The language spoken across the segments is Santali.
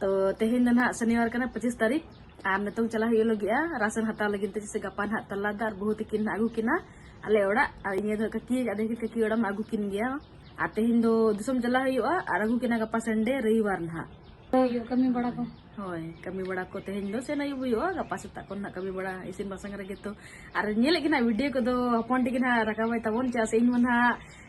ᱛᱚ ᱛᱮᱦᱮᱧ ᱫᱚ ᱱᱟᱦᱟᱜ ᱥᱚᱱᱤᱵᱟᱨ ᱠᱟᱱᱟ ᱯᱚᱸᱪᱤᱥ ᱛᱟᱹᱨᱤᱠᱷ ᱟᱨ ᱱᱤᱛᱚᱝ ᱪᱟᱞᱟᱜ ᱦᱩᱭᱩᱜ ᱞᱟᱹᱜᱤᱫᱼᱟ ᱨᱟᱥᱚᱱ ᱦᱟᱛᱟᱣ ᱞᱟᱹᱜᱤᱫ ᱛᱮ ᱡᱮᱥᱮ ᱜᱟᱯᱟ ᱱᱟᱦᱟᱜ ᱛᱟᱞᱟ ᱫᱚ ᱟᱨ ᱵᱟᱹᱦᱩ ᱛᱤᱠᱤᱱ ᱱᱟᱦᱟᱜ ᱟᱹᱜᱩ ᱠᱤᱱᱟ ᱟᱞᱮ ᱚᱲᱟᱜ ᱟᱨ ᱤᱧ ᱫᱚ ᱠᱟᱹᱠᱤ ᱟᱫᱚ ᱠᱟᱹᱠᱤ ᱚᱲᱟᱜ ᱢᱟ ᱟᱹᱜᱩ ᱠᱤᱱ ᱜᱮᱭᱟ ᱟᱨ ᱛᱮᱦᱮᱧ ᱫᱚ ᱫᱤᱥᱚᱢ ᱪᱟᱞᱟᱜ ᱦᱩᱭᱩᱜᱼᱟ ᱟᱨ ᱟᱹᱜᱩ ᱠᱤᱱᱟ ᱜᱟᱯᱟ ᱥᱟᱱᱰᱮ ᱨᱚᱵᱤᱵᱟᱨ ᱱᱟᱦᱟᱜ ᱠᱟᱹᱢᱤ ᱵᱟᱲᱟ ᱠᱚ ᱦᱳᱭ ᱠᱟᱹᱢᱤ ᱵᱟᱲᱟ ᱠᱚ ᱛᱮᱦᱮᱧ ᱫᱚ ᱥᱮᱱ ᱟᱹᱭᱩᱵ ᱦᱩᱭᱩᱜᱼᱟ ᱜᱟᱯᱟ ᱥᱮᱛᱟᱜ ᱠᱷᱚᱱ ᱱᱟᱦᱟᱜ ᱠᱟᱹᱢᱤ ᱵᱟᱲᱟ ᱤᱥᱤᱱ ᱵᱟᱥᱟᱝ ᱨᱮᱜᱮ ᱛᱚ ᱟᱨ ᱧᱮᱞᱮᱫ ᱜᱮ ᱱᱟᱦᱟᱜ ᱵᱷᱤᱰᱤᱭᱳ ᱠᱚᱫᱚ ᱦᱚᱯᱚᱱ ᱴᱷᱤᱠ ᱱᱟᱦᱟᱜ ᱨᱟᱠᱟᱵᱟᱭ ᱛᱟᱵᱚᱱ ᱪᱮᱫᱟᱜ ᱥᱮ ᱤᱧ ᱢᱟ ᱱᱟᱦᱟᱜ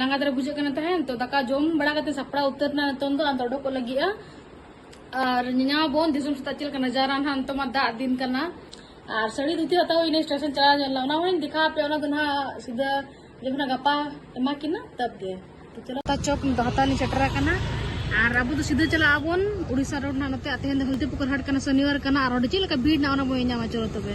ᱞᱟᱸᱜᱟ ᱫᱷᱟᱨᱟ ᱵᱩᱡᱷᱟᱹᱜ ᱠᱟᱱᱟ ᱛᱟᱦᱮᱸᱫ ᱛᱚ ᱫᱟᱠᱟ ᱡᱚᱢ ᱵᱟᱲᱟ ᱠᱟᱛᱮ ᱥᱟᱯᱲᱟᱣ ᱩᱛᱟᱹᱨ ᱮᱱᱟ ᱱᱤᱛᱚᱝ ᱫᱚ ᱟᱫᱚ ᱚᱰᱚᱠᱚᱜ ᱞᱟᱹᱜᱤᱫᱼᱟ ᱟᱨ ᱧᱮᱧᱟᱢ ᱟᱵᱚᱱ ᱫᱤᱥᱚᱢ ᱥᱮᱛᱟᱜ ᱪᱮᱫ ᱞᱮᱠᱟ ᱱᱟᱡᱟᱨᱟ ᱱᱟᱦᱟᱜ ᱱᱤᱛᱚᱜ ᱢᱟ ᱫᱟᱜ ᱫᱤᱱ ᱠᱟᱱᱟ ᱟᱨ ᱥᱟᱹᱲᱤ ᱫᱷᱩᱛᱤ ᱦᱟᱛᱟᱣ ᱦᱩᱭᱱᱟ ᱥᱴᱮᱥᱚᱱ ᱪᱟᱞᱟᱣ ᱧᱚᱜ ᱞᱮᱱᱟ ᱚᱱᱟ ᱦᱚᱸᱧ ᱫᱮᱠᱷᱟᱣ ᱟᱯᱮ ᱚᱱᱟ ᱫᱚ ᱱᱟᱦᱟᱜ ᱥᱤᱫᱷᱟᱹ ᱡᱚᱠᱷᱚᱱ ᱜᱟᱯᱟ ᱮᱢᱟ ᱠᱤᱱᱟ ᱛᱟᱵ ᱜᱮ ᱛᱚ ᱪᱚᱞᱚ ᱪᱚᱠ ᱦᱟᱛᱟᱣ ᱞᱤᱧ ᱥᱮᱴᱮᱨ ᱟᱠᱟᱱᱟ ᱟᱨ ᱟᱵᱚ ᱫᱚ ᱥᱤᱫᱷᱟᱹ ᱪᱟᱞᱟᱜ ᱟᱵᱚᱱ ᱩᱲᱤᱥᱥᱟ ᱨᱳᱰ ᱱᱟᱦᱟᱜ ᱱᱚᱛᱮ ᱛᱮᱦᱮᱧ ᱫᱚ ᱦᱚᱞᱫᱤᱯᱩᱠᱩᱨ ᱦᱟᱴ ᱠᱟᱱᱟ ᱥᱚᱱᱤᱣᱟᱨ ᱠᱟᱱᱟ ᱟᱨ ᱚᱸᱰᱮ ᱪᱮᱫ ᱞᱮᱠᱟ ᱵᱷᱤᱲ ᱱᱟᱜ ᱚᱱᱟ ᱵᱚᱱ ᱧᱟᱢᱟ ᱪᱚᱞᱚ ᱛᱚᱵᱮ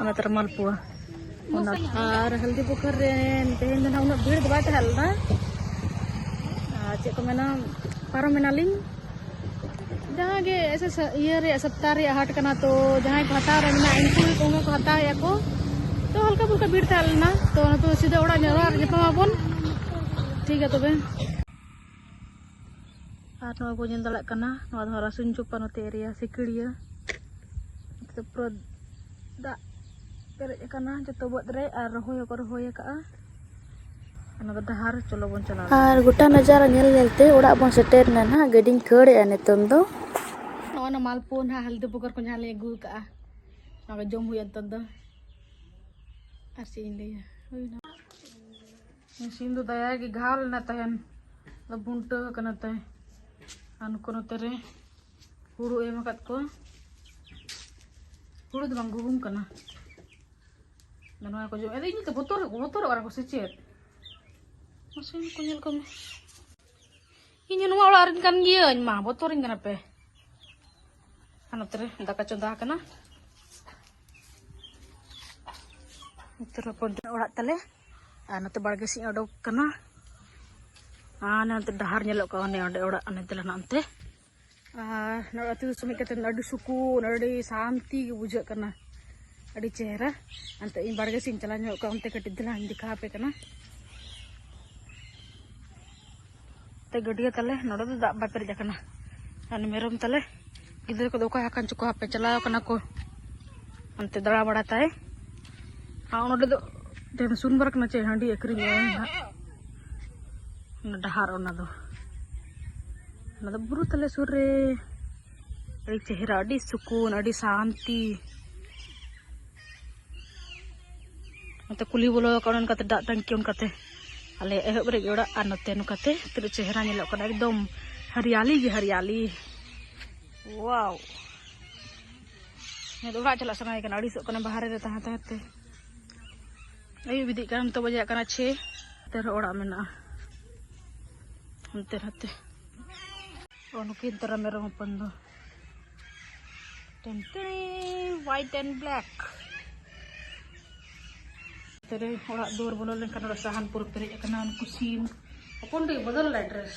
ᱚᱱᱟ ᱛᱟᱨ ᱢᱟᱞᱯᱩᱣᱟ ᱚᱱᱟ ᱟᱨ ᱦᱚᱞᱫᱤ ᱯᱩᱠᱷᱟᱨ ᱨᱮ ᱛᱮᱦᱮᱧ ᱫᱚ ᱱᱟᱦᱟᱜ ᱩᱱᱟᱹᱜ ᱵᱷᱤᱲ ᱫᱚ ᱵᱟᱭ ᱛᱟᱦᱮᱸ ᱞᱮᱱᱟ ᱟᱨ ᱪᱮᱫ ᱠᱚ ᱢᱮᱱᱟ ᱯᱟᱨᱚᱢ ᱮᱱᱟᱞᱤᱧ ᱡᱟᱦᱟᱸ ᱜᱮ ᱮᱥᱮ ᱤᱭᱟᱹ ᱨᱮᱭᱟᱜ ᱥᱚᱯᱛᱟᱦ ᱨᱮᱭᱟᱜ ᱦᱟᱴ ᱠᱟᱱᱟ ᱛᱚ ᱡᱟᱦᱟᱸᱭ ᱠᱚ ᱦᱟᱛᱟᱣ ᱨᱮ ᱢᱮᱱᱟᱜ ᱩᱱᱠᱩ ᱜᱮ ᱠᱚᱦᱚᱸ ᱠᱚ ᱦᱟᱛᱟᱣᱮᱫᱼᱟ ᱠᱚ ᱛᱚ ᱦᱟᱞᱠᱟ ᱯᱷᱩᱞᱠᱟ ᱵᱷᱤᱲ ᱛᱟᱦᱮᱸ ᱞᱮᱱᱟ ᱛᱚ ᱱᱤᱛᱚᱜ ᱥᱤᱫᱷᱟᱹ ᱚᱲᱟᱜ ᱧᱚᱜ ᱨᱮ ᱧᱟᱯᱟᱢ ᱟᱵᱚᱱ ᱴᱷᱤᱠ ᱜᱮᱭᱟ ᱛᱚᱵᱮ ᱟᱨ ᱱᱚᱣᱟ ᱵᱚᱱ ᱧᱮᱞ ᱫᱟᱲᱮᱭᱟᱜ ᱠᱟᱱᱟ ᱱᱚᱣᱟ ᱫᱚ ᱨᱟᱥᱩᱱ ᱪᱚᱯᱟ ᱱᱚᱛᱮ ᱮᱨᱤᱭᱟ ᱥᱤᱠᱲᱤᱭᱟᱹ ᱱᱚᱛᱮ ᱯᱩᱨᱟᱹ ᱫᱟᱜ ᱯᱮᱨᱮᱡ ᱟᱠᱟᱱᱟ ᱡᱚᱛᱚ ᱵᱟᱹᱫᱽ ᱨᱮ ᱟᱨ ᱨᱚᱦᱚᱭ ᱦᱚᱸᱠᱚ ᱨᱚᱦᱚᱭ ᱟᱠᱟᱫᱼᱟ ᱚᱱᱟ ᱫᱚ ᱰᱟᱦᱟᱨ ᱪᱚᱞᱚ ᱵᱚᱱ ᱪᱟᱞᱟᱣ ᱟᱨ ᱜᱚᱴᱟ ᱱᱟᱡᱟᱨᱟ ᱧᱮᱞ ᱧᱮᱞᱛᱮ ᱚᱲᱟᱜ ᱵᱚᱱ ᱥᱮᱴᱮᱨ ᱮᱱᱟ ᱱᱟᱦᱟᱜ ᱜᱟᱹᱰᱤᱧ ᱠᱷᱟᱹᱲᱮᱜᱼᱟ ᱱᱤᱛᱚᱝ ᱫᱚ ᱱᱚᱜᱼᱚ ᱱᱟ ᱢᱟᱞᱯᱩ ᱱᱟᱦᱟᱜ ᱦᱟᱞᱫᱤ ᱵᱚᱜᱚᱨ ᱠᱚ ᱡᱟᱦᱟᱸ ᱞᱮ ᱟᱹᱜᱩ ᱟᱠᱟᱫᱼᱟ ᱚᱱᱟ ᱠᱚ ᱡᱚᱢ ᱦᱩᱭᱩᱜᱼᱟ ᱱᱤᱛᱚᱝ ᱫᱚ ᱟᱨ ᱪᱮᱫ ᱤᱧ ᱞᱟᱹᱭᱟ ᱦᱩᱭᱱᱟ ᱥᱤᱢ ᱫᱚ ᱫᱟᱭᱟ ᱜᱮ ᱜᱷᱟᱣ ᱞᱮᱱᱟ ᱛᱟᱦᱮᱱ ᱟᱫᱚ ᱵᱩᱱᱴᱟᱹ ᱟᱠᱟᱱᱟ ᱛᱟᱭ ᱟᱨ ᱱᱩᱠᱩ ᱱᱚᱛᱮ ᱨᱮ ᱦᱩᱲᱩ ᱮᱢ ᱟᱠᱟᱫ ᱠᱚᱣᱟ ᱦᱩᱲᱩ ᱫᱚ ᱵᱟᱝ ᱜᱩᱦᱩᱢ ᱠᱟᱱᱟ ᱟᱫᱚ ᱱᱚᱣᱟ ᱠᱚ ᱡᱚᱢ ᱟᱫᱚ ᱤᱧ ᱫᱚ ᱵᱚᱛᱚᱨ ᱵᱚᱛᱚᱨᱚᱜ ᱠᱟᱱᱟ ᱠᱚ ᱥᱮ ᱪᱮᱫ ᱥᱤᱢ ᱠᱚ ᱧᱮᱞ ᱠᱚᱢᱮ ᱤᱧ ᱱᱚᱣᱟ ᱚᱲᱟᱜ ᱨᱮᱱ ᱠᱟᱱ ᱜᱤᱭᱟᱹᱧ ᱢᱟ ᱵᱚᱛᱚᱨᱤᱧ ᱠᱟᱱᱟ ᱯᱮ ᱟᱨ ᱱᱚᱛᱮ ᱨᱮ ᱫᱟᱠᱟ ᱪᱚᱸᱫᱟ ᱟᱠᱟᱱᱟ ᱱᱚᱛᱮ ᱨᱮ ᱦᱚᱯᱚᱱ ᱚᱲᱟᱜ ᱛᱟᱞᱮ ᱟᱨ ᱱᱚᱛᱮ ᱵᱟᱲᱜᱮ ᱥᱮᱫ ᱚᱰᱚᱠ ᱠᱟᱱᱟ ᱟᱨ ᱱᱚᱛᱮ ᱰᱟᱦᱟᱨ ᱧᱮᱞᱚᱜ ᱠᱟᱱᱟ ᱚᱱᱮ ᱚᱸᱰᱮ ᱚᱲᱟᱜ ᱚᱱᱮ ᱛᱟᱞᱮ ᱱᱚᱱᱛᱮ ᱟᱹᱛᱩ ᱫᱤᱥᱚᱢ ᱦᱮᱡ ᱠᱟᱛᱮᱫ ᱟᱹᱰᱤ ᱥᱩᱠᱩᱱ ᱟᱹᱰᱤ ᱥᱟᱱᱛᱤ ᱜᱮ ᱵᱩᱡᱷᱟᱹᱜ ᱠᱟᱱᱟ ᱟᱹᱰᱤ ᱪᱮᱦᱨᱟ ᱚᱱᱛᱮ ᱤᱧ ᱵᱟᱲᱜᱮ ᱥᱮᱫ ᱤᱧ ᱪᱟᱞᱟᱣ ᱧᱚᱜ ᱠᱚᱜᱼᱟ ᱚᱱᱛᱮ ᱠᱟᱹᱴᱤᱡ ᱫᱷᱟᱨᱟᱧ ᱫᱮᱠᱷᱟᱣ ᱟᱯᱮ ᱠᱟᱱᱟ ᱛᱮ ᱜᱟᱹᱰᱭᱟᱹ ᱛᱟᱞᱮ ᱱᱚᱰᱮ ᱫᱚ ᱫᱟᱜ ᱵᱟᱭ ᱯᱮᱨᱮᱡ ᱟᱠᱟᱱᱟ ᱟᱨ ᱢᱮᱨᱚᱢ ᱛᱟᱞᱮ ᱜᱤᱫᱽᱨᱟᱹ ᱠᱚᱫᱚ ᱚᱠᱟ ᱟᱠᱟᱱ ᱪᱚᱠᱚ ᱦᱟᱯᱮ ᱪᱟᱞᱟᱣ ᱟᱠᱟᱱᱟ ᱠᱚ ᱚᱱᱛᱮ ᱫᱟᱬᱟ ᱵᱟᱲᱟ ᱛᱟᱭ ᱟᱨ ᱱᱚᱰᱮ ᱫᱚ ᱥᱩᱱᱵᱟᱨ ᱠᱟᱱᱟ ᱪᱮ ᱦᱟᱺᱰᱤ ᱟᱹᱠᱷᱨᱤᱧᱚᱜᱼᱟ ᱚᱱᱟ ᱰᱟᱦᱟᱨ ᱚᱱᱟ ᱫᱚ ᱚᱱᱟ ᱫᱚ ᱵᱩᱨᱩ ᱛᱟᱞᱮ ᱥᱩᱨ ᱨᱮ ᱟᱹᱰᱤ ᱪᱮᱦᱨᱟ ᱟᱹᱰᱤ ᱥᱩᱠᱩᱱ ᱟᱹᱰᱤ ᱥᱟᱱᱛᱤ ᱱᱚᱛᱮ ᱠᱩᱞᱦᱤ ᱵᱚᱞᱚ ᱟᱠᱟᱱᱟ ᱚᱱᱠᱟᱛᱮ ᱫᱟᱜ ᱴᱟᱝᱠᱤ ᱚᱱᱠᱟᱛᱮ ᱟᱞᱮ ᱮᱦᱚᱵ ᱨᱮᱜᱮ ᱚᱲᱟᱜ ᱟᱨ ᱱᱚᱛᱮ ᱱᱚᱝᱠᱟᱛᱮ ᱛᱤᱱᱟᱹᱜ ᱪᱮᱦᱨᱟ ᱧᱮᱞᱚᱜ ᱠᱟᱱᱟ ᱮᱠᱫᱚᱢ ᱦᱟᱨᱤᱭᱟᱞᱤ ᱜᱮ ᱦᱟᱨᱤᱭᱟᱞᱤ ᱣᱟᱣ ᱚᱲᱟᱜ ᱪᱟᱞᱟᱜ ᱥᱟᱱᱟᱭᱮ ᱠᱟᱱᱟ ᱟᱹᱲᱤᱥᱚᱜ ᱠᱟᱱᱟ ᱵᱟᱦᱨᱮ ᱨᱮ ᱛᱟᱦᱮᱸ ᱛᱟᱦᱮᱸ ᱛᱮ ᱟᱹᱭᱩᱵ ᱤᱫᱤᱜ ᱠᱟᱱᱟ ᱱᱤᱛᱚᱜ ᱵᱟᱡᱟᱜ ᱠᱟᱱᱟ ᱪᱷᱮ ᱚᱱᱛᱮ ᱨᱮᱦᱚᱸ ᱚᱲᱟᱜ ᱢᱮᱱᱟᱜᱼᱟ ᱦᱟᱱᱛᱮ ᱱᱟᱛᱮ ᱱᱩᱠᱤᱱ ᱛᱚᱨᱟ ᱢᱮᱨᱚᱢ ᱦᱚᱯᱚᱱ ᱫᱚ ᱴᱮᱱᱴᱮᱱᱤ ᱦᱣᱟᱭᱤᱴ ᱮᱱᱰ ᱵᱞᱮᱠ ᱛᱮᱨᱮ ᱚᱲᱟᱜ ᱫᱩᱣᱟᱹᱨ ᱵᱚᱞᱚ ᱞᱮᱱᱠᱷᱟᱱ ᱚᱲᱟᱜ ᱥᱟᱦᱟᱱ ᱯᱩᱨᱟᱹ ᱯᱮᱨᱮᱡ ᱟᱠᱟᱱᱟ ᱩᱱᱠᱩ ᱥᱤᱢ ᱦᱚᱯᱚᱱ ᱛᱮᱜᱮ ᱵᱚᱫᱚᱞ ᱞᱮᱱᱟ ᱰᱨᱮᱥ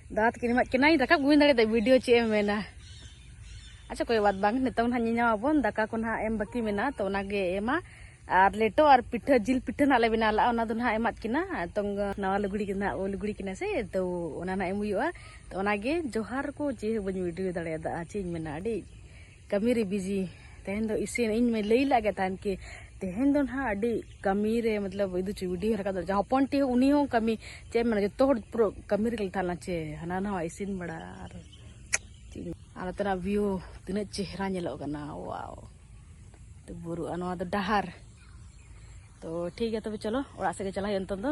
ᱫᱟᱫᱟ ᱛᱟᱹᱠᱤᱱ ᱮᱢᱟᱫ ᱠᱤᱱᱟᱹᱧ ᱨᱟᱠᱟᱵ ᱜᱩᱢᱤᱧ ᱫᱟᱲᱮᱭᱟᱫᱟ ᱵᱷᱤᱰᱤᱭᱳ ᱪᱮᱫ ᱮᱢ ᱢᱮᱱᱟ ᱟᱪᱪᱷᱟ ᱠᱚᱭ ᱵᱟᱫ ᱵᱟᱝ ᱱᱤᱛᱚᱝ ᱱᱟᱦᱟᱜ ᱧᱮᱧᱟᱢᱟᱵᱚᱱ ᱫᱟᱠᱟ ᱠᱚ ᱱᱟᱦᱟᱜ ᱮᱢ ᱵᱟᱹᱠᱤ ᱢᱮᱱᱟᱜᱼᱟ ᱛᱚ ᱚᱱᱟᱜᱮ ᱮᱢᱟ ᱟᱨ ᱞᱮᱴᱚ ᱟᱨ ᱯᱤᱴᱷᱟᱹ ᱡᱤᱞ ᱯᱤᱴᱷᱟᱹ ᱱᱟᱦᱟᱜ ᱞᱮ ᱵᱮᱱᱟᱣ ᱞᱟᱜᱼᱟ ᱚᱱᱟ ᱫᱚ ᱱᱟᱦᱟᱜ ᱮᱢᱟᱫ ᱠᱤᱱᱟ ᱱᱤᱛᱚᱝ ᱱᱟᱣᱟ ᱞᱩᱜᱽᱲᱤ ᱜᱮ ᱱᱟᱦᱟᱜ ᱞᱩᱜᱽᱲᱤ ᱠᱤᱱᱟ ᱥᱮ ᱛᱚ ᱚᱱᱟ ᱱᱟᱦᱟᱜ ᱮᱢ ᱦᱩᱭᱩᱜᱼᱟ ᱛᱚ ᱚᱱᱟᱜᱮ ᱡᱚᱦᱟᱨ ᱠᱚ ᱪᱮᱫ ᱦᱚᱸ ᱵᱟᱹᱧ ᱵᱷᱤᱰᱤᱭᱳ ᱫᱟᱲᱮᱭᱟᱫᱟ ᱪᱮᱫ ᱤᱧ ᱢᱮᱱᱟ ᱟᱹᱰᱤ ᱠᱟᱹᱢᱤ ᱨᱮ ᱵᱤᱡᱤ ᱛᱮᱦᱮᱧ ᱫᱚ ᱤᱥᱤᱱ ᱤᱧ ᱢᱟᱹᱧ ᱞᱟᱹᱭ ᱞᱟᱜ ᱜᱮ ᱛᱟᱦᱮᱱ ᱠᱤ ᱛᱮᱦᱮᱧ ᱫᱚ ᱱᱟᱦᱟᱜ ᱟᱹᱰᱤ ᱠᱟᱹᱢᱤ ᱨᱮ ᱢᱚᱛᱞᱚᱵ ᱤᱫᱩ ᱪᱩᱭ ᱵᱩᱰᱷᱤ ᱦᱚᱸ ᱨᱟᱠᱟᱵ ᱫᱟᱲᱮᱭᱟᱜᱼᱟ ᱡᱟᱦᱟᱸ ᱦᱚᱯᱚᱱ ᱴᱤ ᱩᱱᱤ ᱦᱚᱸ ᱠᱟᱹᱢᱤ ᱪᱮᱫ ᱢᱮᱱᱟ ᱡᱚᱛᱚ ᱦᱚᱲ ᱯᱩᱨᱟᱹ ᱠᱟᱹᱢᱤ ᱨᱮᱜᱮ ᱞᱮ ᱛᱟᱦᱮᱱᱟ ᱪᱮ ᱦᱟᱱᱟ ᱱᱟᱣᱟ ᱤᱥᱤᱱ ᱵᱟᱲᱟ ᱟᱨ ᱟᱨ ᱱᱚᱛᱮᱱᱟᱜ ᱵᱷᱤᱭᱩ ᱛᱤᱱᱟᱹᱜ ᱪᱮᱦᱨᱟ ᱧᱮᱞᱚᱜ ᱠᱟᱱᱟ ᱣᱟᱣ ᱛᱚ ᱵᱩᱨᱩ ᱟᱨ ᱱᱚᱣᱟ ᱫᱚ ᱰᱟᱦᱟᱨ ᱛᱚ ᱴᱷᱤᱠ ᱜᱮᱭᱟ ᱛᱚᱵᱮ ᱪᱚᱞᱚ ᱚᱲᱟᱜ ᱥᱮᱫ ᱜᱮ ᱪᱟᱞᱟᱜ ᱦᱩᱭᱩᱜᱼᱟ ᱱᱤᱛᱚᱝ ᱫᱚ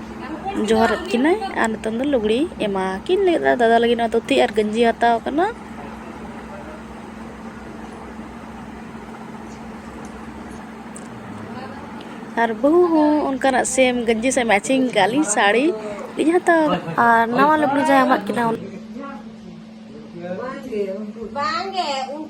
ᱡᱚᱦᱟᱨᱟᱫ ᱠᱤᱱᱟᱹᱭ ᱟᱨ ᱱᱤᱛᱚᱝ ᱫᱚ ᱞᱩᱜᱽᱲᱤᱡ ᱮᱢᱟ ᱠᱤᱱ ᱞᱟᱹᱜᱤᱫᱼᱟ ᱫᱟᱫᱟ ᱞᱟᱹᱜᱤᱫ ᱱᱚᱣᱟ ᱫᱷᱩᱛᱤ ᱟᱨ ᱜᱮᱧᱡᱤ ᱦᱟᱛᱟᱣ ᱠᱟᱱᱟ ᱟᱨ ᱵᱟᱹᱦᱩ ᱦᱚᱸ ᱚᱱᱠᱟᱱᱟᱜ ᱥᱮᱢ ᱜᱮᱧᱡᱤ ᱥᱮ ᱢᱮᱪᱤᱝ ᱠᱟᱜ ᱞᱤᱧ ᱥᱟᱹᱲᱤ ᱞᱤᱧ ᱦᱟᱛᱟᱣ ᱟᱨ ᱱᱟᱣᱟ ᱞᱩᱜᱽᱲᱤ ᱡᱟᱦᱟᱸ ᱮᱢᱟᱫ ᱠᱤᱱᱟ ᱵᱟᱝᱜᱮ ᱩᱱᱠᱩ